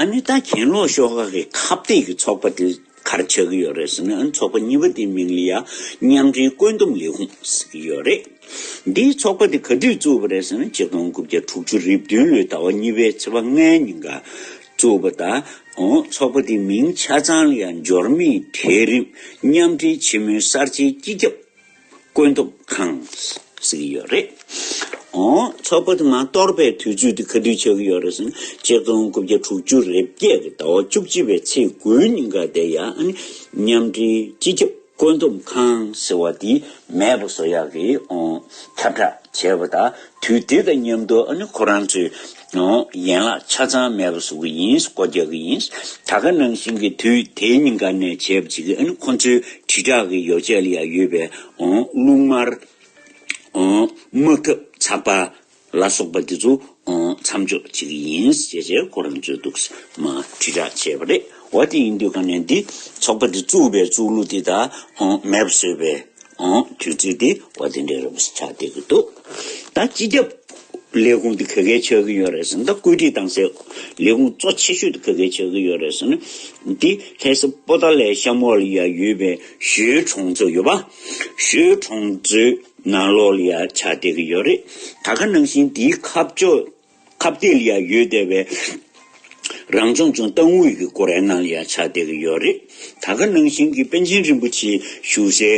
ཨ་ནི་ད་གྱེན་ལོག་ཤོག་ཁག་གི་ཁ་བཏད་ཀྱི་ཚོགས་པ་དེ་གར་ཆགས་ཀྱི་ཡོད་རེད་ཟེར་ན་ཨ་ཚོགས་པ་གཉིས་པ་དེའི་མིང་ལི་ཡ་མཉམ་འབྲེལ་བཀོད་འདོམས་ལས་ཁུངས་ཟེར་གྱི་ཡོད་རེད། འདིའི་ཚོགས་པ་དེ་ག་དུས་བཙུགས་པ་རེད་ཟེར་ན་སྤྱི་སྟོང་དགུ་བརྒྱ་དྲུག་ཅུ་རེ་བདུན་ལོའི་ཟླ་བ་གཉིས་པའི་ཚེས་པ་ལྔའི་ཉིན་གར་བཙུགས་པ་ད་ཨོ་ཚོགས་པ་དེའི་མིང་ཆ་ཚང་ལི་ཡ་འབྱོར་མེད་གྲལ་རིམ་མཉམ་འབྲེལ་ཆེན་མོའི་གསར་བརྗེའི་སྤྱི་ཁྱབ་བཀོད་འདོམས་ཁང་ཟེར་གྱི་ཡོད་རེད། ཚོགས་པ་དེ་མ་གཏོགས་པའི་དུས་ཚོད་དེ་ག་དུས་ཆགས་ཀྱི་ཡོད་རེད་ཟེར་ན་སྤྱིར་བཏང་དགུ་བརྒྱ་དྲུག་ཅུ་རེ་བརྒྱད་ཀྱི་ཟླ་བ་བཅུ་གཅིག་པའི་ཚེས་དགུའི་ཉིན་འགའ་དེ་ཡང་མཉམ་འབྲེལ་སྤྱི་ཁྱབ་བཀོད་འདོམས་ཁང་ཟེར་བ་དེས་མེད་པ་བཟོ་ཡག་གི། ཁྱབ་བསྒྲགས་བྱས་པ་དང་དུས་དེ་དང་མཉམ་དུ་ཁོ་རང་ཚོའི་ཡན་ལག་ཆ་ཚང་མེད་པ་བཟོ་གི་ཡིན་སྒོ་རྒྱག་གི་ཡིན་ད་ག་ནང་བཞིན་གྱི་དུས་དེ་གཉིས་ཀ་ནས་བྱས་པ་ཅིག་ཨ་ནི་ཁོ་ཚོའི་དྲིལ་བསྒྲགས་ཀྱི་ཡོ་བྱད་ལ་ཡང་ཡོད་པའི་རླུང་དམར། དམག་འཐབ་ཚགས་པར་ལ་སོགས་པ་དེ་ཚོ་མཚམས་འཇོག་བྱེད་ཀྱི་ཡིན་ཞེས་ཁོ་རང་ཚོའི་འདུག་སྨྲ་དྲིལ་བསྒྲགས་བྱས་པ་རེད། བ་དེ་ཡིན་དུས་གང་ནས་འདི་ཚོགས་པ་འདི་བཙུགས་པའི་བཙུགས་ལུགས་དེ་དག་མེད་པ་བཟོས་པའི་དུས་ཚོད་དེ་བ་དེ་འདྲས་རེད་པ་ཞིག་ཆགས་བསྡད་ཀྱི་འདུག་ད་སྤྱི་ཁྱབ་ལས་ཁུངས་དེ་ག་གལ་ཆགས་ཀྱི་ཡོད་རེད་ཟེར་ན་ད་བཀོད་སྒྲིག་བཏང་སའི་ལས་ཁུངས་གཙོ་ཆེ་ཤོས་དེ་ག་གལ་ཆགས་ཀྱི་ཡོད་རེད་ཟེར་ན་འདི་ལྷས་ས་པོ་ཏཱ་ལའི་ཤམ་བྷ་ལ་ཡ་ཡོད་པའི་ཞོའི་གྲོང་ཚོ་ཡོད་པ། ཞོའི་གྲོང་ཚོའི་ནང་ལོགས་ལ་ཡ་ཆགས་བསྡད་ཀྱི་ཡོད་རེད་ད་ག་ནང་བཞིན་འདིའི་ཁ་ཕྱོགས། ཁ་བརྡའི་ཡ་ཡོད་དེ་བས་རང་སྦྱོང་ཅུང་སྟབས་དངོས་ཀྱི་སྐོར་ཡང་གནང་ཡ་ཆ་བསྡད་ཀྱི་ཡོད་རེད། ད་ག་ནང་བཞིན་གྱི་པན་ཆེན་རིན་པོ་ཆེའི་བཞུགས་སའི་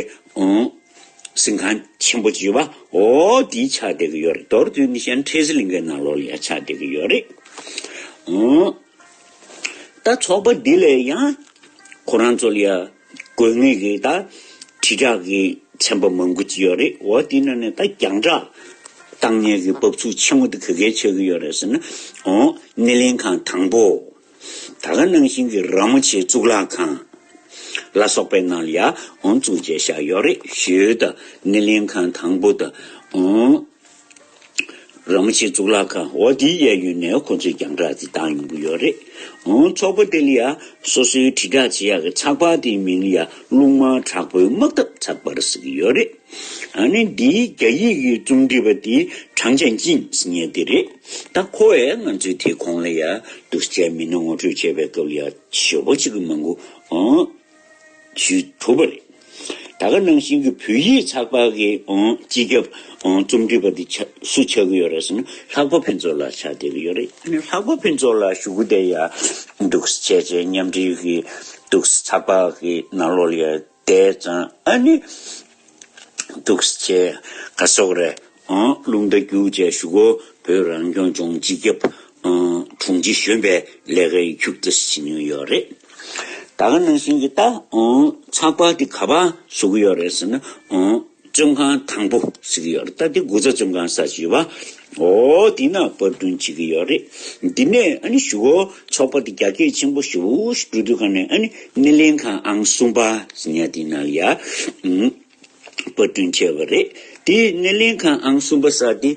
གསིང་ཁང་ཆེན་པོ་བྱིས་པ་འོ་དེའི་ཆ་བསྡད་ཀྱི་ཡོད་རེད་མདོར་བསྡུས་ནས་ཤན་ཁྲེ་ཟི་ལིང་གའི་ནང་ལོགས་ཡ་ཆ་བསྡད་ཀྱི་ཡོད་རེད། ད་ཚོགས་པ་འདི་ལས་ཡང་ཁོ་རང་ཚོ་ལ་ཡ་དགོས་ངེས་ཀྱི་ད་དྲིལ་བསྒྲགས་ཀྱི་ཚན་པ་མང་པོ་ཅི་ཡོད་རེད་འོ་དེ་ན་ནི་ད་རྒྱང་བསྒྲགས་བཏང་ཉེས་ཀྱི་བབས་ཚུགས་ཆེན་མོ་དེ་ག་གལ་ཆགས་ཀྱི་ཡོད་རེད་ཟེར་ན་འོ་སྣེ་ལེན་ཁང་དང་པོ་ད་ག་ནང་བཞིན་གྱི་ར་མོ་ཆེའི་གཙུག་ལག་ཁང་ལ་སོགས་པའི་ནང་ལ་ཡང་འོ་གཙུག་བྱས་བཞག་ཡོད་རེད་ཞུས་ད་སྣེ་ལེན་ཁང་དང་པོ་ད་འོ། རང་མི་ཆེ་གཙུག་ལག་ཁང་འོག་འདི་གཡས་གཡོན་ནས་ཁོ་ཚོས་རྒྱང་གྲགས་འདི་བཏང་ཡོང་གི་ཡོད་རེད། འོང་ཚོགས་པ་དེ་ལ་ཡ་སོ་སོའི་དྲིལ་བསྒྲགས་བྱེད་ཡག་གི་ཚགས་པར་དེའི་མིང་ལ་ཡ་རླུང་དམར་དྲག་པོའི་དམག་འཐབ་ཚགས་པར་ཟེར་གི་ཡོད་རེད། ད་ནི་འདིའི་རྒྱ་ཡིག་གི་རྩོམ་སྒྲིག་པ་དེ་ཁྲང་ཅན་ཅིན་ངེད་འདི་རེད། ད་ཁོ་བས་ང་ཚོའི་དེ་གོང་ལ་ཡ་སྡུར་བྱས་མིན་ངོ་སྤྲོད་བྱེད་པའི་སྐབས་ལ་ཡ་ཞོ་པོ་ཅིག་མ་འགོ། ཞུས། གྲུབ་པ་རེད། ད་ག་ནང་བཞིན་གྱི་བོད་ཡིག་ཚགས་པར་གྱི་སྤྱི་ཁྱབ་རྩོམ་སྒྲིག་པ་འདི་སུ་ཆགས་ཀྱི་ཡོད་རེད་ཟེར་ན་ལྷག་པ་ཕུན་ཚོགས་ལགས་ཆགས་བསྡད་ཀྱི་ཡོད་རེད། ལྷག་པ་ཕུན་ཚོགས་ལགས་ཞུ་གུ་བསྡད་ཡག་འདུག་བྱས་བྱས་མཉམ་འབྲེལ་གྱི་འདུག་ཚགས་པར་གྱི་ནང་ལོགས་ལ་ཡར་བསྡད་ཙང་ཨ་ནི། འདུག་ཅེས་བཀའ་སོགས་རེ་བླུགས་མདའ་རྒྱུགས་བཅས་ཞུ་སྒོ་བོད་རང་སྐྱོང་ལྗོངས་སྤྱི་ཁྱབ་དྲུང་ཆེ་གཞོན་པའི་ལས་ཀའི་མཇུག་ཏུ་ཟིན་མྱོང་ཡོད་རེད། ད་ག་ནང་བཞིན་གྱི་ཚགས་པར་འདི་ག་པར་བཟོ་གི་ཡོད་རེད་ཟེར་ན་བཙོན་ཁང་དང་པོ་ཟེར་གྱི་ཡོད་རེད་ད་འདི་དགུ་རྩ་བཙོན་ཁང་ས་བྱི་བ། ཨོ། འདི་ན་དཔར་བསྐྲུན་བྱེད་ཀྱི་ཡོད་རེད། འདི་ནས་ཨ་ནི་ཞུ། ཚོགས་པ་འདི་རྒྱ་སྐད་ཆེན་པོ་ཞུ་འབྲུ་དོད་ཁང་ནས་ཨ་ནི་སྣེ་ལེན་ཁང་ཨང་གསུམ་པ་ཉག་འདི་ན་ཡ། དཔར་བསྐྲུན་བྱས་པ་རེད། དེའི་སྣེ་ལེན་ཁང་ཨང་གསུམ་པ་ས་དེ།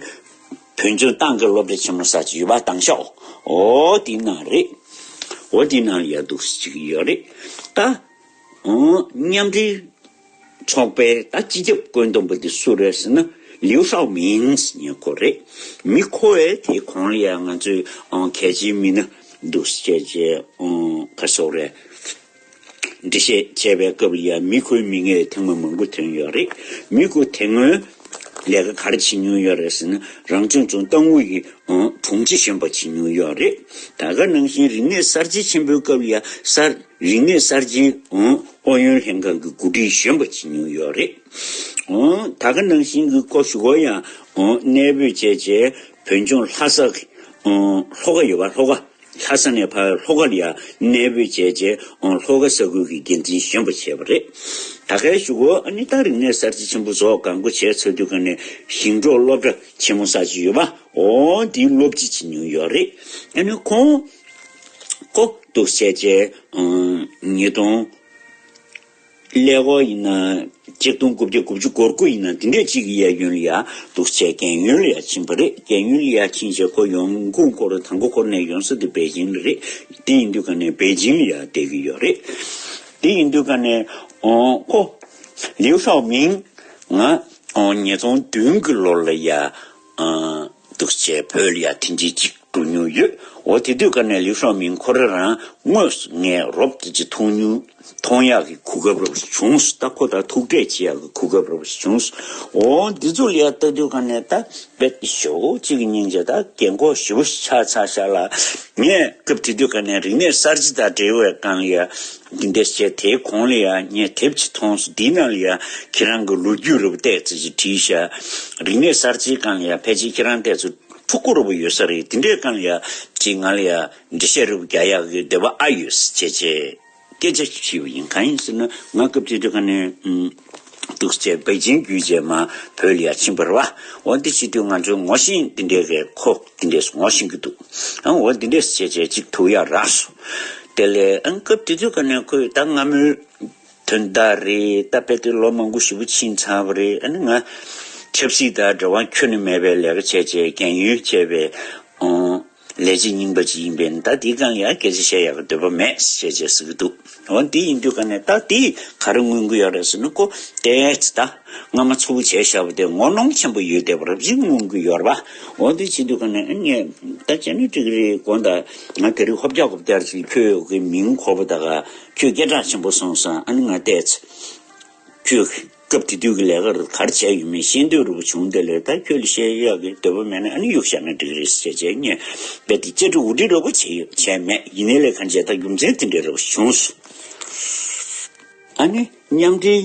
བོད་ལྗོངས་ཏང་གི་སློབ་གྲྭ་ཆེན་མོ་ས་ཅིག་ཡོད་པ་ཏང་ཤག་ཨོ་དེ་ན་རེད། ཨོ་དེ་ན་ཡ་འདུག་བྱེད་ཀྱི་ཡོད་རེད། ད། མཉམ་འབྲེལ། ཚོགས་པའི་ད་སྤྱི་ཁྱབ་བཀོད་འདོམས་པ་དེ་སུ་རེད་ཟེར་ན་ལིའུ་ཧྲའོ་མིན་ཉེ་འཁོར་རེད། མི་མཁོ་བས་དེ་གོང་ལ་ཡང་ང་ཚོས་གལ་ཆེན་མི་སྣ་འདུག་བཤད་ཅེས་ཁ་ཕྱོགས་རེད། འགྲེལ་བཤད་བྱེད་པའི་སྐབས་ལ་ཡང་མི་མཁོའི་མིང་ངས་ཐེངས་མང་མང་པོ་ཐོན་ཡོད་རེད། མི་མཁོ་དེ་སྔོན་ལས་ཀ་ག་རེ་བྱེད་མྱོང་ཡོད་རེད་ཟེར་ན་རང་སྐྱོང་ལྗོངས་ཏང་ཨུ་ཡི་དྲུང་ཆེ་གཞོན་པ་བྱེད་མྱོང་ཡོད་རེད། ད་ག་ནང་བཞིན་རིག་གནས་གསར་བརྗེ་ཆེན་པོའི་སྐབས་ལ་ཡང་གསར། རིག་གནས་གསར་བརྗེའི་ཨུ་ཡོན་ལྷན་ཁང་གི་གོ་སྒྲིག་གཞོན་པ་བྱེད་མྱོང་ཡོད་རེད། ད་ག་ནང་བཞིན་གྱི་སྐོར་ཞུ་སྒོ་ཡང་གནས་སྤོས་བྱས་རྗེས་བོད་ལྗོངས་ལྷ་ས། ལྷོ་ཁ་ཡོད་པ་ལྷོ་ཁ། ལྷ་ས་ནས་ཕ་ལྷོ་ཁར་ཡང་གནས་སྤོས་བྱས་རྗེས་ལྷོ་ཁ་ས་ཁུལ་གྱི་འགན་འཛིན་གཞོན་པ་བྱས་པ་རེད། ད་གའི་ཞུ་སྒོ་ནི་ཏང་རིག་གནས་གསར་བརྗེ་ཆེན་པོ་ཟོག་འགའ་མགོ་བྱས་ཚར་དུས་ག་ནས་ཞིང་འབྲོག་སློབ་གྲྭ་ཆེན་མོ་གསར་བརྗེ་ཡོད་པ་འོག་འདིའི་སློབ་སྤྱི་བྱེད་མྱོང་ཡོད་རེད། ཁོང། ལྐོག་ཏུ་བཤད་བྱའི་ཉིས་སྟོང། ཀླད་ཀོར་ཡིན་ན་གཅིག་སྟོང་དགུ་བརྒྱ་དགུ་བཅུ་སྒོར་དགུ་ཡིན་ན་དེ་འདྲའི་གཅིག་གི་གཡས་གཡོན་ལ་ཡ་འདུག་བྱས་རྒན་གཡོན་ལ་ཡ་ཕྱིན་པ་རེད་རྒན་གཡོན་ལ་ཡ་ཕྱིན་བྱས་ཁོ་ཡོང་དགུ་འཁོར་དང་དགུ་འཁོར་ནས་ཡོང་ས་དེ་པེ་ཅིང་ལ་རེད་དེ་ཡིན་དུས་ག་ནས་པེ་ཅིང་ལ་ཡ་བསྡད་ཀྱི་ཡོད་རེད་དེ་ཡིན་དུས་ག་ནས་ཁོ། ལིའུ་ཧྲའོ་མིང། ང། ཉིས་སྟོང་བདུན་གྱི་ལོར་ལ་ཡ། འདུག་ཅེས་བོད་ལ་ཡར་ཐེངས་གཅིག་སྒྲུག་མྱོང་ཡོད་འོ་དེ་དུས་སྐབས་ནས་ལིའུ་ཧྲོའུ་མིང་ཁོ་རང་རང་དངོས་སུ་ངས་རོབ་ཀྱི་མཐོང་མྱོང་མཐོང་ཡག་གི་གོ་སྐབས་རོབ་ཞིག་བྱུང་སོ་ད་ཁོ་དང་ཐུག་འཕྲད་བྱེད་ཡག་གི་གོ་སྐབས་རོབ་ཞིག་བྱུང་སོ་འོ་འདི་ཚོ་ལ་ཡར་ལྟ་དུས་སྐབས་ནས་ད་བོད་ཀྱི་ཞོག་ཁོག་ཅིག་གི་སྙིང་རྗེ་དང་དགེ་མགོ་ཞི་བོ་ཞིག་ཆགས་ཚར་ཤག་ལ་ངས་སྐབས་དེ་དུས་སྐབས་ནས་རིག་གནས་གསར་བརྗེ་དང་འབྲེལ་བའི་སྒང་ལ་ཡར་འདི་འདྲས་བྱས་དེའི་གོང་ལ་ཡང་ངས་དེབ་ཅིག་མཐོང་སོང་འདིའི་ནང་ལ་ཡང་ཁྱེད་རང་གི་ལོ་རྒྱུས་རེ་བ་བལྟས་ཚེ་ཞེས་བྲིས་ཤག་རིག་གནས་གསར་བརྗེའི་སྐང་ལ་ཡང་ཕལ་ཆེར་ཁྱེད་རང་བལྟས་ཚེ་ཕྲུ་གུ་རེ་བ་ཡོད་ས་རེད་འདི་འདྲའི་སྐང་ལ་ཡང་བྲིས་ང་ལ་ཡང་འབྲི་བཤད་རེ་བ་བརྒྱ་ཡག་གི་འདོད་པ་ཨ་ཡོད་ཟེར་བྱས་བྱས་སྐད་ཆ་ཞིག་བྲིས་པ་ཡིན་གང་ཡིན་ཟེར་ན་ང་སྐབས་དེ་དུས་ཁ་ནས་གདུག་བྱེད་བགེགས་ཆེན་རྒྱུད་རྗེས་མ་བོད་ལ་ཡ་ཕྱིན་འབར་བ། འོ་འདི་ཕྱི་དུས་ང་ཚོའི་ངོ་ཤེས་འདི་འདྲའི་རེད་ཁོ་འདི་འདྲས་སུ་ངོ་ཤེས་ཀྱི་འདུག་ཨང་འོ་འདི་འདྲས་སུ་བྱས་བྱས་གཅིག་ཐུག་ཡ་རགས་སོ། དེ་ལས་ཨང་སྐབས་དེ་དུས་ཀ་ནས་ཁོས་ད་སྔ་མོའི་དོན་དག་རེད་ད་བལ་དུ་ལོ་མང་པོ་བཞི་པོ་ཕྱིན་ཚར་བ་རེད་ཨ་ནི་ང་ཆབ་སྲིད་དང་འབྲེལ་བ་ཁྱོན་ནས་མེད་པའི་ལས་ཀ་བྱས་བྱས་རྒན་ཡོལ་བྱས་པའི་ཨང། ལས་ཀྱི་སྙིང་པོ་ཅི་ཡིན་པས་ད་འདི་གང་ཡང་སྐད་ཅིག་བཤད་ཡག་པའི་འདོད་པ་མེད་ཞེས་བྱས་ཟེར་གྱི་འདུག་འོ་འདི་ཡིན་དུས་ག་ནས་ད་འདི་ག་རེ་སྔོན་སྐུལ་ཡག་རེད་ཟེར་ནི་ཀོ་ཏེས་ད་སྔ་མ་ཚུར་བྱས་བཞག་པ་དེ་ངོ་གནོང་ཆེན་པོ་ཡོད་བསྡད་པ་རབ་བྱུང་སྔོན་སྐུལ་ཡོད་རེད་པ་འོ་འདི་བྱེད་དུས་ག་ནས་ངས་ད་བྱས་ན་འགྲིག་གི་རེད་གོ་ད་ང་དེ་རིང་ཧོབ་རྒྱག་གོ་བསྡད་ཀྱི་ཁྱོད་ཀྱི་མིང་ཁོ་བོ་ད་ག་ཁྱོད་སྐད་གྲགས་ཆེན་པོ་སོང་སང་ཨ་ནི་ང་ཏེས། ཁྱོད་སྐབས་དེ་དུས་ཀྱི་ལས་ཀ་རུ་གར་བྱས་ཡོད་མེད་ཤེས་འདོད་རུ་བྱུང་དེ་ལས་ད་ཁྱོད་ལ་ཤེས་ཡག་གི་འདོད་པ་མེད་ན་ཨ་ནི་གཡུག་ཞག་ན་འགྲིག་རེད་ཟེར་བྱས་ངས་རྦད་དེ་བཅར་འདྲི་འུར་འདྲི་རོགས་པ་བྱས་ཡོད་བྱས་མེད་ཡིན་ནའི་ལས་གར་མཇལ་ད་རྒྱུ་མཚན་དེ་འདྲ་རེ་བ་བྱུང་སོང། ཨ་ནི་མཉམ་འབྲེལ།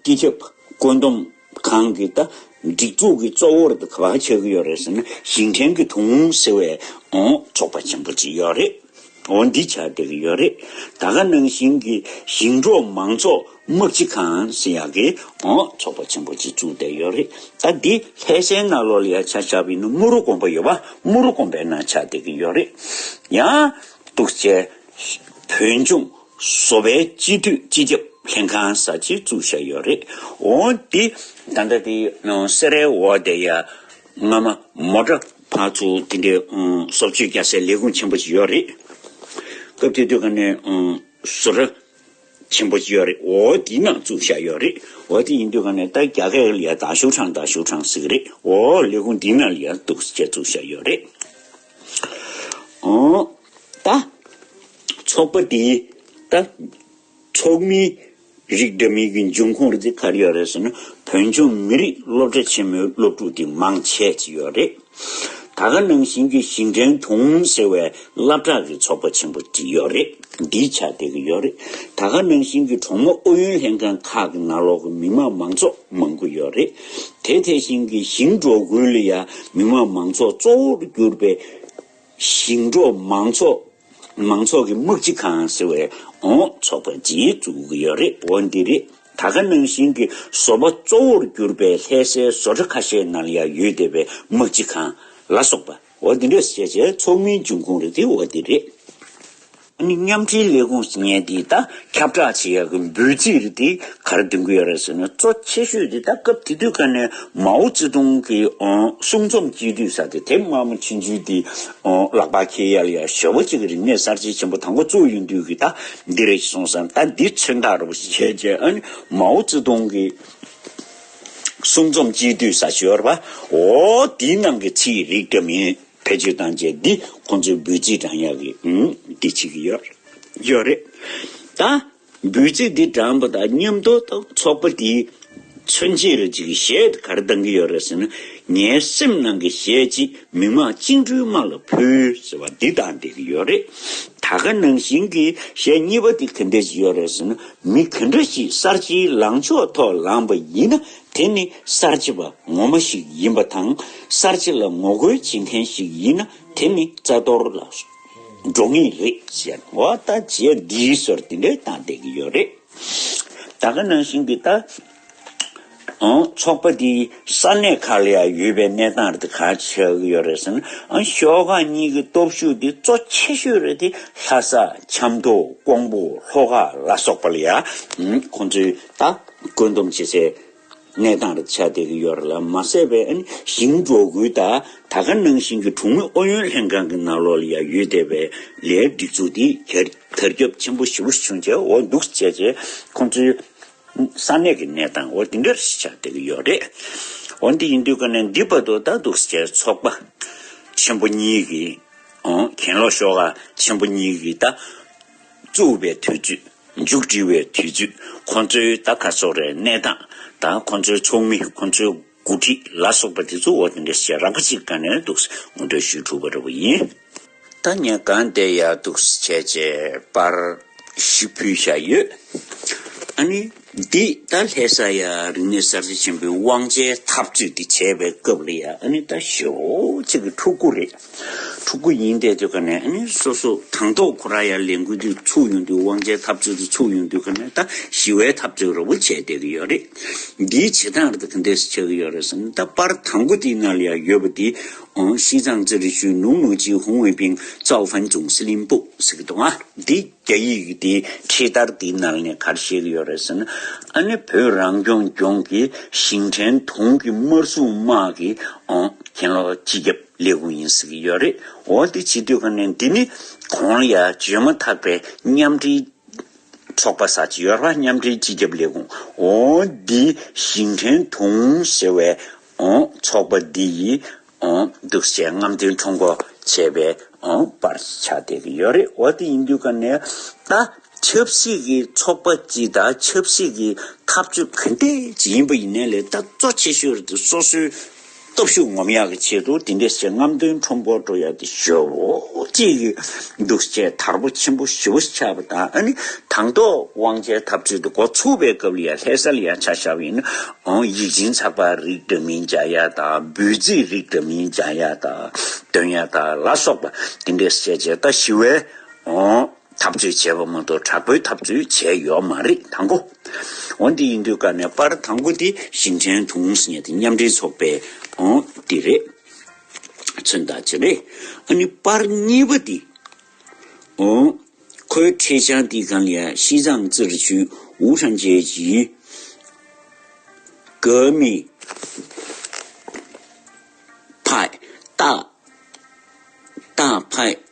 སྤྱི་ཁྱབ་བཀོད་འདོམས། གང་གིས་ད་སྒྲིག་འཛུགས་ཀྱི་གཙོ་བོར་ག་བ་ཆགས་ཀྱི་ཡོད་རེད་ཟེར་ན་ཞིང་བྲན་གྱི་དུང་ཧོང་ཟེར་བའི་ཚོགས་པ་ཆེན་པོ་ཅིག་ཡོད་རེད་འོ་འདི་ཆགས་བསྡད་ཀྱི་ཡོད་རེད་ད་ག་ནང་བཞིན་གྱི་ཞིང་འབྲོག་མང་ཚོགས་དམག་སྤྱི་ཁང་ཟེར་ཡག་གི་ཚོགས་པ་ཆེན་པོ་ཅིག་བཙུགས་བསྡད་ཡོད་རེད་ད་འདི་ལྷས་སའི་ནགས་ལོག་ལ་ཡ་ཆ་ཆགས་པའི་ནང་དམུ་རུ་དགོན་པ་ཡོད་པ་དམུ་རུ་དགོན་པའི་ནང་ཆགས་བསྡད་ཀྱི་ཡོད་རེད་ཡང་དུག་སྤྱད། བོད་ལྗོངས་གསོ་བའི་སྤྱི་འཐུས་སྤྱི་ཁྱབ་ལྷན་ཁང་གསར་བརྗེ་བཙུགས་བཞག་ཡོད་རེད། འོན་ཏེ། ད་ལྟ་དེ་སེ་རའི་འོག་དེ་ཡ་ང་མ་མོ་འདྲ་བ་ཚོ་དེ་འདྲའི་སོབ་ཆོས་རྒྱག་སའི་ལས་ཁུངས་ཆེན་པོ་ཞིག་ཡོད་རེད། སྐབས་དེ་དུས་ག་ནས་བཟོ་གྲྭ་ཆེན་པོ་ཞིག་ཡོད་རེད་འོ་དེ་ནང་བཙུགས་བཞག་ཡོད་རེད་འོ་དེ་ཡིན་དུས་ག་ནས་ད་རྒྱ་སྐད་ལ་ཡ་ད་ཞུགས་ཁྲང་ད་ཞུགས་ཁྲང་ཟེར་གི་རེད་འོ་ལས་ཁུངས་དེ་ནང་ལ་ཡ་འདུག་ཅེས་བཙུགས་བཞག་ཡོད་རེད། ད། ཚོགས་པ་དེའི། ད། ཚོགས་མིའི། རིགས་འདྲ་མིན་གྱི་འབྱུང་ཁུངས་རེད་ག་རེ་ཡོད་རེད་ཟེར་ན་བོད་ལྗོངས་མི་རིགས་སློབ་གྲྭ་ཆེན་མོའི་སློབ་ཕྲུག་དེ་མང་ཆེ་གཅིག་ཡོད་རེད། ད་ག་ནང་བཞིན་གྱི་ཞིང་བྲན་དུང་ཟེར་བའི་བླ་བྲག་གི་ཚོགས་པ་ཆེན་པོ་གཅིག་ཡོད་རེད་འདིའི་ཆ་དེ་ག་ཡོད་རེད། ད་ག་ནང་བཞིན་གྱི་གྲོང་མི་ཨུ་ཡོན་ལྷན་ཁང་ཁག་གི་ནང་ལོག་གི་མི་དམངས་མང་ཚོགས་མང་པོ་ཡོད་རེད། དེ་དེ་བཞིན་གྱི་ཞིང་འབྲོག་ཁུལ་ལ་ཡང་མི་དམངས་མང་ཚོགས་གཙོ་བོར་གྱུར་པའི། ཞིང་འབྲོག་མང་ཚོགས་མང་ཚོགས་ཀྱི་དམག་སྤྱི་ཁང་ཟེར་བའི་འོང་ཚོགས་པ་རྗེས་བཙུགས་ཀྱི་ཡོད་རེད་འོ་འདི་རེད་ད་ག་ནང་བཞིན་གྱི་བཟོ་པ་གཙོ་བོར་གྱུར་པའི་ལྷས་སའི་བཟོ་གྲ་ཁ་ཤས་ནང་ཡང་ཡོད་བསྡད་པའི་དམག་སྤྱི་ཁང་ལ་སོགས་པ་འོ་འདི་འདྲ་བྱས་བྱས་ཚོགས་མིའི་འབྱུང་ཁུངས་རེད་དེ་འོ་འདི་རེད། མཉམ་འབྲེལ་ལས་ཁུངས་སུ་ངས་འདི་ལྟར་ཁྱབ་བསྒྲགས་བྱེད་ཡག་གི་འབོད་ཚིག་དེ་ག་རེ་འདོན་གི་ཡོད་རེད་ཟེར་ན་གཙོ་ཆེ་ཤོས་དེ་ད་སྐབས་དེ་དུས་ཀ་ནས་མའོ་ཙེ་ཏུང་གི་གསུང་རྩོམ་སྤྱི་འཐུས་ས་དེ་དེབ་སྔ་མོ་ཕྱིན་ཚུལ་དེ་ལག་པ་ཁྱེད་ཡལ་ཡལ་ཞོལ་པོ་གཅིག་གི་རིག་གནས་གསར་བརྗེ་ཆེན་པོ་དང་པོ་གཙོ་ཡིན་དུས་ཀྱི་ད་འདི་རེད་ཅེས་གསུངས་སམ་ད་འདི་མཚོན་རྟགས་རེད་པོ་ཞེས་བྱས་རྗེས་མའོ་ཙེ་ཏུང་གི་གསུང་རྩོམ་སྤྱི་འཐུས་ས་ཞོལ་པོ་འོ་དེའི་ནང་གི་ཚིག་རིགས་འདྲ་མིན། བེད་སྤྱོད་བཏང་རྗེས་འདི་ཁོང་ཚོའི་འབུལ་རྩིས་བགྲང་ཡག་གི་འདི་བྱེད་ཀྱི་ཡོད་ཡོད་རེད། ད་འབུལ་རྩིས་འདི་བགྲང་པ་དང་མཉམ་དུ་དང་ཚོགས་པ་འདིའི་མཚོན་བྱེད་རེ་ཅིག་གཞས་འདི་གར་བཏང་གི་ཡོད་རེད་ཟེར་ན་ངའི་སེམས་ནང་གི་གཞས་ཅིག་མི་དམངས་བཅིངས་འགྲོལ་དམག་ལ་ཕུལ་ཟེར་བ་འདི་བཏང་བསྡད་ཀྱི་ཡོད་རེད། ད་ག་ནང་བཞིན་གྱི་གཞས་གཉིས་པ་འདི་ག་འདེད་ཀྱི་ཡོད་རེད་ཟེར་ན་མི་ག་འདྲ་ཞིག་གསར་བརྗེའི་ལངས་ཕྱོགས་ཐོག་ལངས་པ་ཡིན་ན་དེ་ནི་གསར་བརྗེ་བ་ངོ་མ་ཞིག་ཡིན་པ་དང་གསར་བརྗེ་ལ་ངོ་རྒོལ་བྱེད་མཁན་ཞིག་ཡིན་ན་དེ་ནི་རྩ་གཏོར་ལ་འགྲོ་ངེས་རེད་ཟེར་བ་ལྟ་བྱས་འདིའི་ཟོར་དེ་འདྲས་བཏང་བསྡད་ཀྱི་ཡོད་རེད། ད་ག་ནང་བཞིན་གྱི་ལྟ། ཚོགས་པ་འདི་ས་གནས་ཁག་ལ་ཡང་ཡོད་པའི་གནས་སྟངས་རེད་དེ་ག་ཆགས་ཀྱི་ཡོད་རེད་ཟེར་ན་ཤོག་ཁག་གཉིས་ཀྱི་སྟོབས་ཤུགས་འདི་གཙོ་ཆེ་ཤོས་རེད་དེ་ལྷ་ས་ཆབ་མདོ་ཀོང་པོ་ལྷོ་ཁ་ལ་སོགས་པ་ལ་ཡང་ཁོང་ཚོའི་ལྟ། བཀོད་འདོམས་བྱེད་སའི་གནས་སྟངས་རེད་ཆགས་བསྡད་ཀྱི་ཡོད་རེད་ལ་མ་ཟད་པའི་ཞིང་འབྲོག་ཁུལ་དག་ད་ག་ནང་བཞིན་གྱི་གྲོང་མི་ཨུ་ཡོན་ལྷན་ཁང་གི་ནང་ལོགས་ལ་ཡང་ཡོད་བསྡད་པའི་ལས་སྒྲིག་འཛུགས་དེ་དར་ཁྱབ་ཆེན་པོ་ཞི་བོ་བྱུང་རྗེས་འོག་འདུག་བྱས་རྗེས་ཁོང་ཚོའི་ས་གནས་ཀྱི་གནས་སྟངས་འོ་དེ་འདྲ་རེད་ཆགས་བསྡད་ཀྱི་ཡོད་རེད། འོ་འདི་ཡིན་དུས་ག་ནས་འདི་བར་དུ་ད་འདུག་བྱས་ཚོགས་པ་ཆེན་པོ་གཉིས་ཀྱིས་གྱེན་ལོག་ཤོག་ཁག་ཆེན་པོ་གཉིས་ཀྱིས་ད་བཙུགས་པའི་དུས་ཚོད། མཇུག་སྒྲིལ་བའི་དུས་ཚོད་ཁོང་ཚོའི་ད་ག་ཚོགས་རའི་གནས་སྟངས་དང་ཁོང་ཚོའི་ཚོགས་མི་ཁོང་ཚོའི་འགོ་ཁྲིད་ལ་སོགས་པ་དེ་ཚོ་འོ་དེ་འདྲས་ཞེས་རག་པ་ཅིག་ག་ནས་འདུག་ཟེར་ངོ་འདྲ་ཞུས་ཐུབ་པ་རེད་བ་ཡིན། ད་ངས་གང་བལྟས་ཡག་འདུག་བྱས་རྗེས་པར་ཞིག་ཕུལ་བཞག་ཡོད། ཨ་ནི། འདི་ད་ལྷས་ས་ཡ་རིག་གནས་གསར་བརྗེ་ཆེན་པོའི་དབང་ཆའི་འཐབ་རྩོད་འདི་བྱས་པའི་སྐབས་རེད་ཡ་ཨ་ནི་ད་ཞོ་གཅིག་གི་ཕྲུག་གུ་རེད། ཕྲུ་གུ་ཡིན་ཏེ་དུས་ཀ་ནས་སོ་སོ་དང་ཐོག་ཁོ་ར་ཡར་ལས་འགུལ་དུས་ཚུགས་ཡོང་དུས་དབང་ཆའི་འཐབ་རྩོད་དུས་ཚུགས་ཡོང་དུས་ཁོ་ནས་ད་ཞི་བའི་འཐབ་རྩོད་རོབ་བོ་བྱས་བསྡད་ཀྱི་ཡོད་རེད། འདིའི་བྱེད་སྟངས་རེད་ག་འདེས་ཆགས་ཀྱི་ཡོད་རེད་བསམ་ད་པར་དང་པོ་དེའི་ནང་ལ་ཡང་ཡོད་པ་དེ་ཤིས་ཚང་རྩེ་རི་ཆུས་ནུའུ་ནུའུ་ཅིའི་ཧུང་ཝེ་པིང་ཙའོ་ཧྥན་ཅུང་སི་ལིན་པོ་ཟེར་གྱི་འདུག་ང། འདི་རྒྱ་ཡིག་གི་དེའི་ཁྲིད་བསྟར་དེའི་ནང་ནས་གར་བཤད་ཀྱི་ཡོད་རེད་ཟེར་ན་བོད་རང་སྐྱོང་ལྗོངས་ཀྱི་ཞིང་བྲན་དུང་གི་དམར་སྲུང་དམག་གི་གྱེན་ལོག་སྤྱི་ཁྱབ། ལས་ཁུངས་ཡིན་ཟེར་གྱི་ཡོད་རེད་འོ་འདི་ཇི་དུས་ག་ནས་འདི་ནི་གོང་ཡ་བརྗོད་མ་ཐག་པའི་མཉམ་འབྲེལ་ཚོགས་པ་ས་ཆ་ཡོར་བ་མཉམ་འབྲེལ་སྤྱི་ཁྱབ་ལས་ཁུངས་འོ་འདི་ཞིང་བྲན་དུང་ཟེར་བའི་འོ་ཚོགས་པ་འདི་ཡིས་འོ་འདུག་བྱས་རྔམ་སྟོན་ཁྲོ་མགོ་བྱས་པའི་འོ་པར་ཆགས་བསྡད་ཀྱི་ཡོད་རེད་འོ་དེ་ཡིན་དུས་ག་ནས་ད་ཆབ་སྲིད་ཀྱི་ཚོགས་པ་སྤྱི་དང་ཆབ་སྲིད་ཀྱི་ཐབས་བྱུས་ག་འདི་ཇི་ཡིན་པ་ཡིན་ནའི་ལས་ད་གཙོ་ཆེ་ཤོས་རེད་འདུག་སོ་སོའི་སྟོབས་ཤུགས་ངོམ་ཡག་གི་ཆེད་དུ་དེ་འདྲས་བྱེད་རྔམ་སྟོན་ཁྲོམ་སྐོར་འགྲོ་ཡག་གི་ཞོ་བོ་གཅིག་གི་འདུག་བཅས་དར་པོ་ཆེན་པོ་བཞི་བོ་ཆགས་པ་དང་ནི་དང་ཐོག་དབང་ཆའི་འཐབ་རྩོད་དུ་འགོ་ཚུགས་པའི་སྐབས་ལ་ཡང་ལྷད་སར་ཡང་ཆ་བཞག་པའི་ནི་ཨང་ཡིག་སྦྱིན་ཚགས་པར་རིགས་འདྲ་མིན་སྦྱང་ཡག་དང་འབོད་ཚིག་རིགས་འདྲ་མིན་སྦྱང་ཡག་དང་འདོན་ཡག་དང་ལ་སོགས་པ་དེ་འདྲས་བྱས་རྗེས་ད་ཞི་བའི་ཨང། འཐབ་རྩོད་བྱས་པ་མ་གཏོགས་དྲག་པོའི་འཐབ་རྩོད་བྱས་ཡོད་མ་རེད་དང་གོ། འོ་འདི་ཡིན་དུས་ཀ་ནས་པར་དང་པོ་དེ་ཞིང་ཆེན་གྲོང་གསེབ་མཉམ་འབྲེལ་ཚོགས་པའི་འོ་དེ་རེད། མཚོན་རྟགས་ཅི་རེད་ཨ་ནི་པར་གཉིས་པ་དེ་འོ། ཁོའི་འཕྲེད་བྱང་དེ་གང་ཡང་ཤིས་ཙང་ཙིར་ཆུས་ཝུའུ་ཧྲན་རྒྱལ་གྱི་ཀོ་མི་ཕའི་རྟགས་རྟགས་ཕའི་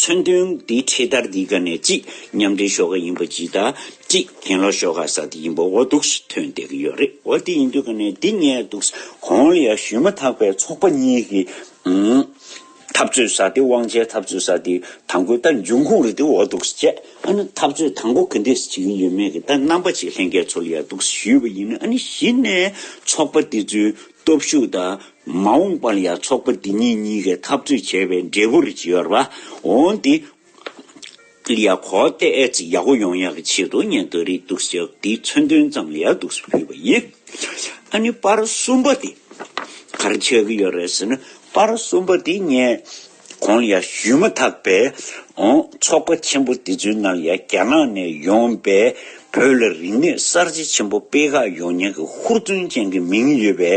མཚོན་དོན་དེ་འཕྲེད་དར་འདི་ག་ནས་གཅིག་མཉམ་འབྲེལ་ཤོག་ཁག་ཡིན་པ་ཇི་ལྟར་གཅིག་གྱེན་ལོག་ཤོག་ཁག་ས་དེ་ཡིན་པ་འོ་འདུག་ཐོན་བསྡད་ཀྱི་ཡོད་རེད་འོ་དེ་ཡིན་དུས་ག་ནས་འདི་ངས་འདུག་གོང་ལ་ཡང་ཞུས་མ་ཐག་པའི་ཚོགས་པ་གཉིས་ཀྱི་འཐབ་རྩོད་ས་དེ་དབང་ཆའི་འཐབ་རྩོད་ས་དེ་དང་པོའི་ལྟ་འབྱུང་ཁུངས་རེད་འདུག་འོ་འདུག་བྱས་ཨ་ནི་འཐབ་རྩོད་དང་པོ་ག་འདྲས་བྱེད་ཀྱི་ཡོད་མེད་ཀྱི་ལྟ་རྣམ་པ་ཅིག་ལྷན་རྒྱས་ཚོ་ལ་ཡང་འདུག་ཞུས་པ་ཡིན་ཨ་ནི་གཞི་ནས་ཚོགས་པ་དེ་ཚོའི་སྟོབས་ཤུགས་དང། མ་འོངས་པར་ཡང་ཚོགས་པ་འདི་གཉིས་གཉིས་ཀས་འཐབ་རྩོད་བྱེད་པའི་འབྲས་བུར་གྱུར་པ་འོང་སྟེ། ཡང་གོ་གཏད་ཅིག་ཡག་པོ་ཡོང་ཡག་གི་ཆེད་དུ་ཉན་ཐོས་རིགས་གཏུགས་ཤིག་འདི་མཚོན་དོན་ཙམ་ལ་ཡག་གཏུགས་སུ་ཕུལ་བ་ཡིན། ཨ་ནི་པར་གསུམ་པ་དེ་ག་རེ་བྱེད་ཀྱི་ཡོད་རེད་ཟེར་ན་པར་གསུམ་པ་དེ་ངས། གོང་ཡར་ཞུས་མ་ཐག་པའི་ཚོགས་པ་ཆེན་པོ་དེ་ཚོའི་ནང་ཡང་རྒྱ་ནག་ནས་ཡོང་པའི་བོད་ལ་རིག་གནས་གསར་བརྗེ་ཆེན་པོ་སྤེལ་ཁག་ཡོང་ཉེན་གྱི་ཧུར་བརྩོན་ཅན་གྱི་མིང་ཡོད་པའི་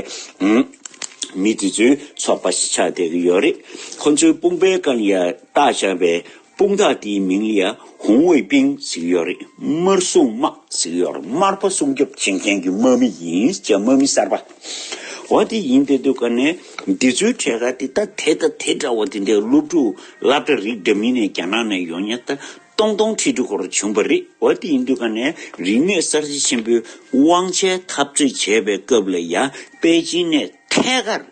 མི་དེ་ཚོའི་ཚོགས་པ་ཞིག་ཆགས་བསྡད་ཀྱི་ཡོད་རེད། ཁོ་ཚོའི་དཔུང་པའི་རྐང་ཡར་བཏགས་བཞག་པའི་དཔུང་རྟགས་དེའི་མིང་ཡང་ཧུང་ཝུའེ་པིང་གཟིགས་ཡོད་རེད་དམར་སྲུང་དམག་གཟིགས་ཡོད་རེད་དམར་པོ་སྲུང་སྐྱོབ་བྱེད་མཁན་གྱི་དམག་མི་ཡིན་ཅེས་དམག་མི་གསར་པ་འོ་དེ་ཡིན་དེ་འདུག་ག་ནས་འདི་ཚོའི་གྲས་ཁ་དེ་ད་དེ་ད་དེ་འདྲ་བོ་དེ་འདྲའི་སློབ་ཕྲུག་བསླབ་གྲྭ་རིགས་འདྲ་མིན་ནས་རྒྱ་ནག་ནས་ཡོང་ཉེ་ད་སྟོང་སྟོང་ཁྲི་ཁྲི་སྐོར་བྱུང་པ་རེད་འོ་དེ་ཡིན་དུས་ག་ནས་རིག་གནས་གསར་བརྗེ་ཆེན་པོའི་དབང་ཆའི་འཐབ་རྩོད་བྱས་པའི་སྐབས་ལ་ཡང་པེ་ཅིན་ནས་ཐད་ཀར།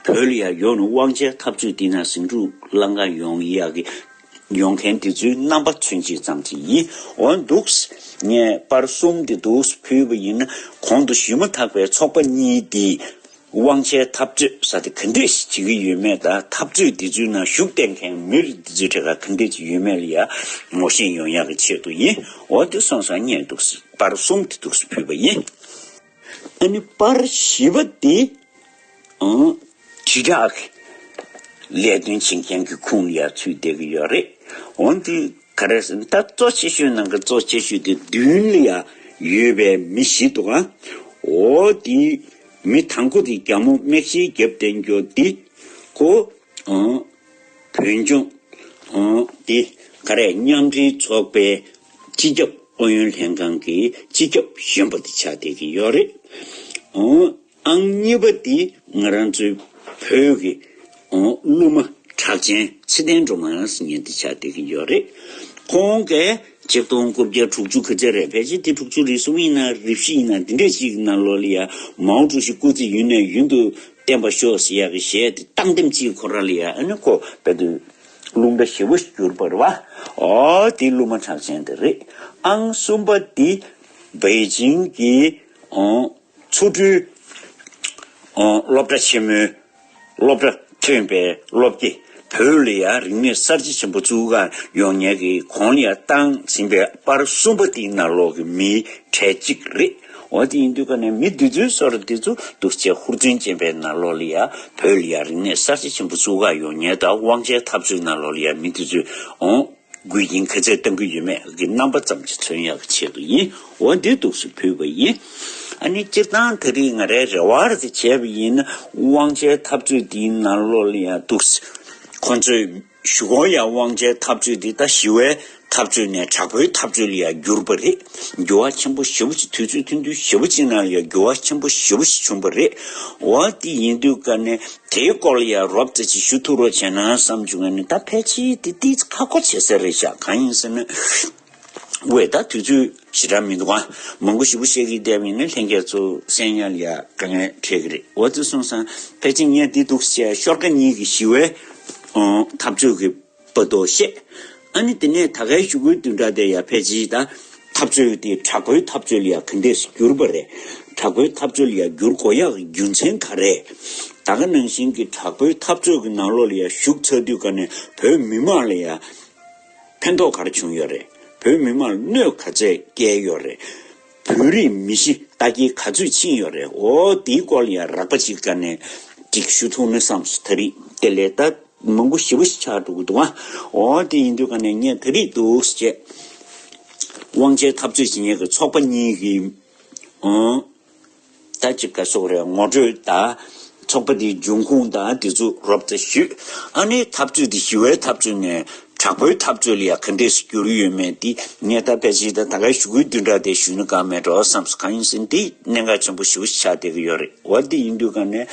བོད་ཡར་ཡོང་ནས་དབང་ཆའི་འཐབ་རྩོད་བསྟི་ན་ཟིང་འཁྲུག་བསླངས་ཀ་ཡོང་ཡ་གི། ཡོང་མཁན་དེ་ཚོའི་རྣམ་པ་ཚུན་ཅིག་ཙམ་ཞིག་ཡིན་འོན་འདུག། ངས་པར་གསུམ་དེ་འདུག་ཕུལ་བ་ཡིན་ན་གོང་དུ་ཞུས་མ་ཐག་པའི་ཚོགས་པ་གཉིས་དེས། དབང་ཆའི་འཐབ་རྩོད་ས་དེ་ག་འདྲས་ཤིག་བྱེད་ཀྱི་ཡོད་མེད་དང་འཐབ་རྩོད་དེ་ཚོའི་ནང་ཞུགས་བསྡད་མཁན་མི་རིགས་དེ་ཚོའི་གྲས་ཁ་ག་འདྲས་ཅིག་ཡོད་མེད་ལ་ཡར་ངོ་ཤེས་ཡོང་ཡ་གི་ཆེད་དུ་ཡིན་འོ་དེ་སོང་སང་རྙེད་འདུག་པར་གསུམ་དེ་འདུག་ཕུལ་བ་ཡིན། ཨ་ནི་པར་བཞི་པ་དེ་དྲིལ་བསྒྲགས་ཀྱི་ལས་དོན་བྱེད་མཁན་གྱི་ཁུངས་ལ་ཡར་ཚུད་བསྡད་ཀྱི་ཡོད་རེད། འོན་ཏེ་ག་རེ་ཟེར་ན་ད་གཙོ་ཆེ་ཤོས་ནང་གི་གཙོ་ཆེ་ཤོས་དེ་བདུན་ལ་ཡང་ཡོད་པའི་མི་ཞིག་འདུག་ཨ་འོ་དེ་མི་དང་པོ་དེ་རྒྱ་མོ་རྨེག་ཤེལ་རྒྱབ་བསྟན་རྒྱུ་དེ་གོ། བོད་ལྗོངས། དེ་ག་རེ་མཉམ་འབྲེལ་ཚོགས་པའི་སྤྱི་ཁྱབ་ཨུ་ཡོན་ལྷན་ཁང་གི་སྤྱི་ཁྱབ་གཞོན་པ་དེ་ཆགས་བསྡད་ཀྱི་ཡོད་རེད། ཨང་གཉིས་པ་དེ་ང་རང་ཚོའི་བོད་ཀྱི་གླུ་མ་གྲགས་ཅན་ཚེ་བརྟན་སྒྲོལ་མ་ལགས་སི་ཉན་དེ་ཆགས་བསྡད་ཀྱི་ཡོད་རེད། ཁོང་གིས་ཆིག་སྟོང་དགུ་བརྒྱ་དྲུག་ཅུ་གི་ཚེ་རེད་བེད་སྤྱད་དེ་དྲུག་ཅུ་རེ་གསུམ་ཡིན་ན་རེ་བཞི་ཡིན་ན་འདི་འདྲས་ཤིག་ན་ལོ་ལི་ཡ་མའོ་ཀྲུའུ་ཞི་སྐུ་ཚེ་ཡུན་ནས་ཡུན་དུ་བསྟན་པ་ཤོག་ཟེར་ཡག་གི་གཞས་དེ་བཏང་དེམ་ཅིའི་གོ་ར་ལི་ཡ་ཨ་ནི་ཁོ་བལ་དུ་ལུང་འདྲ་ཞེ་བོ་ཞིག་བསྒྱུར་པར་བ་ཨོ་དེ་གླུ་མ་གྲགས་ཅན་དེ་རེད་ཨང་གསུམ་པ་དེ་བའི་ཇིང་གི་ཨོ་ཆོ་འཕྲུལ་ཨོ་སློབ་གྲྭ་ཆེན་མོའི་སློབ་གྲྭ་ཐོན་པའི་སློབ་དེ་བོད་ལི་ཡ་རིག་གནས་གསར་བརྗེ་ཆེན་པོ་བཙུགས་ཀར་ཡོང་ཉལ་གི་གོང་ལི་ཡ་བཏང་ཟིན་པའི་པར་གསུམ་པ་དེ་ནག་ལོག་གི་མིའི་གྲས་གཅིག་རེད། འོ་དེ་ཡིན་དུས་ཀ་ནས་མི་འདི་ཚོའི་སོར་འདི་ཚོ་འདུག་ཅེས་ཧུར་བརྩོན་ཅན་པའི་ནཱ་ལོ་ལི་ཡ་བོད་ལི་ཡ་རིག་གནས་གསར་བརྗེ་ཆེན་པོ་བཙུགས་ག་ཡོང་ཉལ་ད་དབང་ཆའི་འཐབ་རྩོད་ནཱ་ལོ་ལི་ཡ་མི་འདི་ཚོས་འོང་དགོས་ཀྱིན་ག་ཚད་གཏང་གི་ཡོད་མེད་ཀྱི་རྣམ་པ་ཙམ་གྱི་མཚོན་ཡག་བྱེད་དགོས་ཡིན་འོ་འདི་འདུག་སུ་ཕུལ་བ་ཡིན་ཨ་ནི་སྤྱིར་བཏང་ད་རིག་ང་རའི་རེ་བར་དེ་བྱས་པ་ཡིན་ན་དབང་ཆའི་འཐབ་རྩོད་འདིའི་ནཱ་ལོ་ལི་ཡ་འདུག་ཁོ་ཚོས། ཞུ་ཁོང་ཡང་དབང་ཆའི་འཐབ་རྩོད་འདི་ད་ཞི་བའི་འཐབ་རྩོད་ནས་དྲག་པོའི་འཐབ་རྩོད་ལ་ཡང་འགྱུར་པ་རེད། འགྱུར་བ་ཆེན་པོ་ཞེ་བོ་ཅིག་དུས་ཚོད་ཐུང་དུས་ཞེ་བོ་ཅིག་ནང་ལ་ཡང་འགྱུར་བ་ཆེན་པོ་ཞེ་བོ་ཞིག་བྱུང་པ་རེད། འོ་དེ་ཡིན་དུས་སྐབས་ནས་དེའི་སྐོར་ལ་ཡང་རོབ་ཙེ་ཅིག་ཞུ་ཐུབ་རོགས་བྱས་ན་བསམ་བྱུང་ཡ་ནི་ད་ཕལ་ཆེར་དེ་དེའི་ཁ་ཁོ་བྱེད་ས་རེད་ཤག་གང་ཡིན་ཟེར་ན། བའི་ད་དུས་ཚོད་ཞེ་དྲག་མི་འདུག་ཨ། མང་པོ་ཞིབ་པོ་བཤད་གི་བསྡད་མིན་ནི་ལྷན་རྒྱས་གཙོ་གསན་ཡ་ལ་ཡ་དཀའ་ངལ་འཕྲད་གི་རེད་འོ་ཙི་སོང་སང་ཕལ་ཆེར་ངས་འདི་འདུག་བཤད་ཤོར་ཀ་གཉིས་ཀྱི་ཞི་བའི་འཐབ་རྩོད་ཀྱི་པ་དོ་བཤད་ཨ་ནི་དེ་ནས་ད་གའི་ཞུ་སྐུལ་བསྡུས་འདྲ་དེ་ཡ་ཕལ་ཆེའི་ད་འཐབ་རྩོད་དེ་དྲག་པོའི་འཐབ་རྩོད་ལ་ཡ་ག་འདེད་སུ་གྱུར་པ་རེད་དྲག་པོའི་འཐབ་རྩོད་ལ་ཡ་བསྒྱུར་གོ་ཡག་གི་རྒྱུ་མཚན་ག་རེད་ད་ག་ནང་བཞིན་གྱི་དྲག་པོའི་འཐབ་རྩོད་ཀྱི་ནང་ལོག་ལ་ཡ་ཞུགས་ཚར་དུས་ག་ནས་བོད་མི་མང་ལ་ཡ། ཕན་ཐོགས་ག་རེ་བྱུང་ཡོད་རེད། བོད་མི་མང་གནོད་ག་ཚད་བསྐྱལ་ཡོད་རེད། བོད་རིགས་མི་ཤི་རྟ་འགྱེལ་ག་ཚོད་ཕྱིན་ཡོད་རེད་འོ་དེའི་སྐོར་ལ་ཡང་རགས་པ་ཅིག་བཀའ་ནན་ཅིག་ཞུ་ཐུང་ནི་བསམ་སོང་ད་རིག་དེ་ལས་ད་མང་པོ་ཞི་བ་ཞིག་ཆགས་འགྲོ་གི་འདུག་ཨ་འོ་དེ་ཡིན་དུས་བཀའ་ནན་ངས་ད་རིག་འདུག་བཅས་དབང་ཆའི་འཐབ་རྩོད་བྱེད་མཁན་གྱི་ཚོགས་པ་གཉིས་ཀྱིས་ཨོ། ད་ཅི་ཀ་སོགས་རེ་ངོ་སྤྲོད་དང། ཚོགས་པ་དེའི་འབྱུང་ཁུངས་དང་དེ་ཚུ་རོབ་ཙ་ཞུས། ཨ་ནེའི་འཐབ་རྩོད་དེ་ཞི་བའི་འཐབ་རྩོད་ནས་དྲག་པོའི་འཐབ་རྩོད་ལ་ཡང་ག་འདྲས་སུ་འགྱུར་ཡོད་མེད་དེ་ངས་ད་ཕལ་ཆེར་ད་གའི་ཞུ་སྐུལ་དུས་འདྲ་དེ་ཞུས་ན་དགའ་མེད་འགྲོ་བསམ་སོ་གང་ཡིན་ཟིན་དེ་གནད་འགག་ཆེན་པོ་ཞུ་བཞེས་ཆགས་བསྡད་ཀྱི་ཡོད་རེད་བ་དེ་ཡིན་དུས་ག་ནས་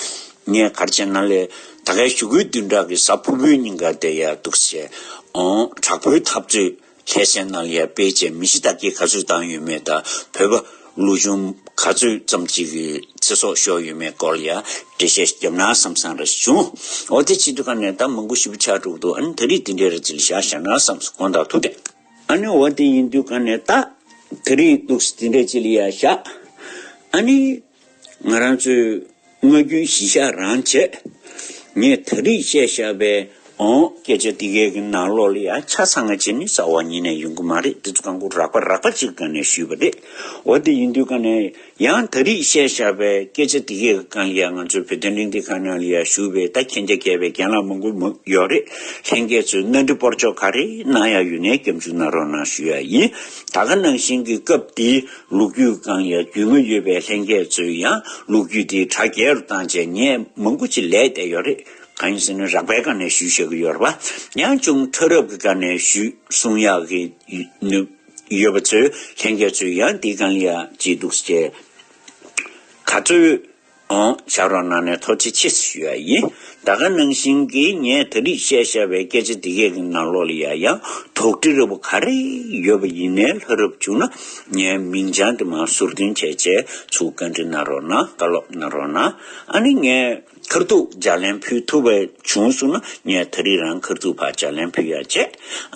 ངས་གར་བྱས་ན་ལས་ད་གའི་ཞུ་སྐུལ་དུས་འདྲ་གི་གཟའ་ཕུར་བུའི་ཉིན་འགར་བསྡད་ཡག་འདུག་ཟེར་ཨོང་དྲག་པོའི་འཐབ་རྩོད། ཁྱད་གསན་གནང་ཡས་དཔེ་ཆའི་མི་གཞི་དག་གིས་ག་ཚོད་བཏང་ཡོད་མེད་དང་བོད་པ་ལུག་ཆུང་ག་ཚོད་ཙམ་གཅིག་གི་ཚེ་སྲོག་ཤོར་ཡོད་མེད་སྐོར་ཡང་འགྲེལ་བཤད་བརྒྱབ་ན་བསམ་བསམ་རེ་བྱུང། འོ་དེ་ཕྱི་དྲོ་ཁ་ནས་ད་མང་པོ་ཞིབ་ཆ་དྲུག་འདུག་ཨཱ་ནི་ད་རིས་དེ་འདྲའི་རེ་བྱེད་ཤག་བཞག་ན་བསམ་སོང་དགོངས་དག་ཐུགས་བྲལ། ཨཱ་ནི་འོ་དེ་ཡིན་དུས་ཁ་ནས་ད་ད་རིས་འདུག་སེ་དེ་འདྲའི་བྱེད་ལ་ཡ་བཞག་ཨཱ་ནི། ང་རང་ཚོའི་སྔ་རྒྱུན་གཞི་བཞག་རང་བྱེད། ངས་ད་རིས་བཤད་བཞག་པའི་ཨོང། སྐད་ཆ་འདི་གའི་ནང་ལོགས་ལ་ཡང་ཆ་ཚང་བ་བྱེད་མི་ཟ་བ་ཉིད་ནས་ཡོང་གི་མ་རེད་འདི་ཚོ་ཀང་ཀོ་རག་པ་རག་པ་ཅིག་ཀང་ནས་ཞུས་པ་རེད། འོ་དེ་ཡིན་དུས་ཀང་ནས་ཡང་ད་རིས་བཤད་བཞག་པའི་སྐད་ཆ་འདི་གའི་ཀང་ཡང་ང་ཚོའི་བོད་དོན་གླེང་སྟེགས་ཁང་ནང་ལ་ཡང་ཞུས་པའི་ད་མཁྱེན་རྒྱ་རྒྱས་པའི་རྒན་ལགས་མང་པོ་མི་ཡོད་རེད་ལྷན་རྒྱས་ཚོས་སྣ་འདྲི་སྤོར་ཆོག་ག་རེད་གནང་ཡག་ཡོད་ནས་སྐྱབས་འཇུག་གནང་རོགས་གནང་ཞུས་ཡག་ཡིན་ད་ག་ནང་བཞིན་གི་སྐབས་འདི། ལུག་རྒྱུད་བཀང་ཡ་རྒྱུས་མངའ་ཡོད་པའི་ལྷན་རྒྱས་ཚོས་ཡང་ལུག་རྒྱུད་དེའི་དྲ་རྒྱལ་རུ་བཏང་རྗེས་ངས་མང་པོ་ཅི་ལས་བསྡད་ཡོད་རེད་གང་ཡིན་ཟེར་ན་རག་པའི་སྒང་ནས་ཞུས་བྱེད་ཀྱི་ཡོད་རེད་བ་ཡང་ཅུང་ཐོས་རབ་ཀྱི་སྒང་ནས་ཞུས་གསུང་ཡག་གི་ཡོད་པ་ཚོས་ལྷན་རྒྱས་ཚོས་ཡང་འདི་བཀང་ཡ་ཅི་འདུག་ཅེས་ག་ཚོད། ཞབས་རོགས་གནང་ནས་ཐོག་ཅི་བྱེད་ཞུ་ཡ་ཡིན། ད་ག་ནང་བཞིན་གྱི་ངས་ད་རིག་བཤད་ཤར་བའི་སྐད་ཆ་འདི་གས་ཀྱི་ནང་ལོག་ལ་ཡ་ཡང་དོགས་འདྲི་རེ་བོ་ག་རེ་ཡོད་པ་ཡིན་ནའི་ལྷ་རབ་བྱུང་ན་ངའི་མིང་བྱང་དེ་མ་ཟུར་འདོན་བྱས་བྱས་ཚུལ་བཀའ་འདྲི་གནང་རོགས་གནང་བཀའ་སློབ་གནང་རོགས་གནང་ཨ་ནི་ངས་ཁར་ཐུག་ལྗགས་ལན་ཕུལ་ཐུབ་པ་བྱུང་གསུང་ན་ངས་ད་རིག་རང་ཁར་ཐུག་ཕར་ལྗགས་ལན་ཕུལ་ཡ་བྱས་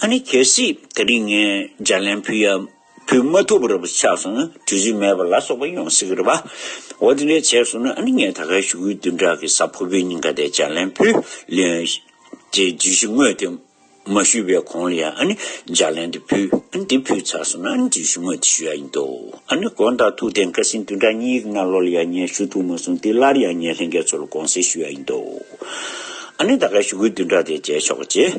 ཨ་ནི་གལ་སྲིད་ད་རིག་ངས་ལྗགས་ལན་ཕུལ་ཡ། བུད་མ་ཐུབ་པར་ཆགས་སོང་ན་དུས་ཚོད་མེད་པར་ལ་སོགས་པ་ཡོང་སྲིད་གི་རེད་པ། འོ་དེ་འདྲས་བྱས་སོང་ན་ཨ་ནི་ངས་ད་གའི་ཞུ་སྐུལ་བདུན་ཕྲག་གི་གཟའ་ཕུར་བུའི་ཉིན་ག་དེ་ལྕགས་ལན་བུ་ལོན། དེ་བརྗོད་གཞི་དངོས་དེ་མ་ཞུས་པའི་གོང་ལ་ཡང་ཨ་ནི་ལྗགས་ལན་དེ་ཕུལ་ཨ་ནི་དེ་ཕུལ་ཚར་སོང་ན་ཨ་ནི་བརྗོད་གཞི་དངོས་དེ་ཞུ་ཡ་ཡིན་འདུག་ཨ་ནི་དགོན་དང་ཐུགས་རྟེན་བཀའ་སྲིན་བདུན་ཕྲག་གཉིས་ཀྱི་སྔ་ལོ་ལ་ཡང་ངས་ཞུ་ཐུབ་མ་སོང་དེ་སླར་ཡང་ངས་ལྷན་རྒྱས་ཚོ་ལ་དགོངས་སེལ་ཞུ་ཡ་ཡིན་འདུག་ཨ་ནི་ད་གའི་ཞུ་སྐུལ་བདུན་ཕྲག་དེ་བྱས་ཆོག་གི་རེད།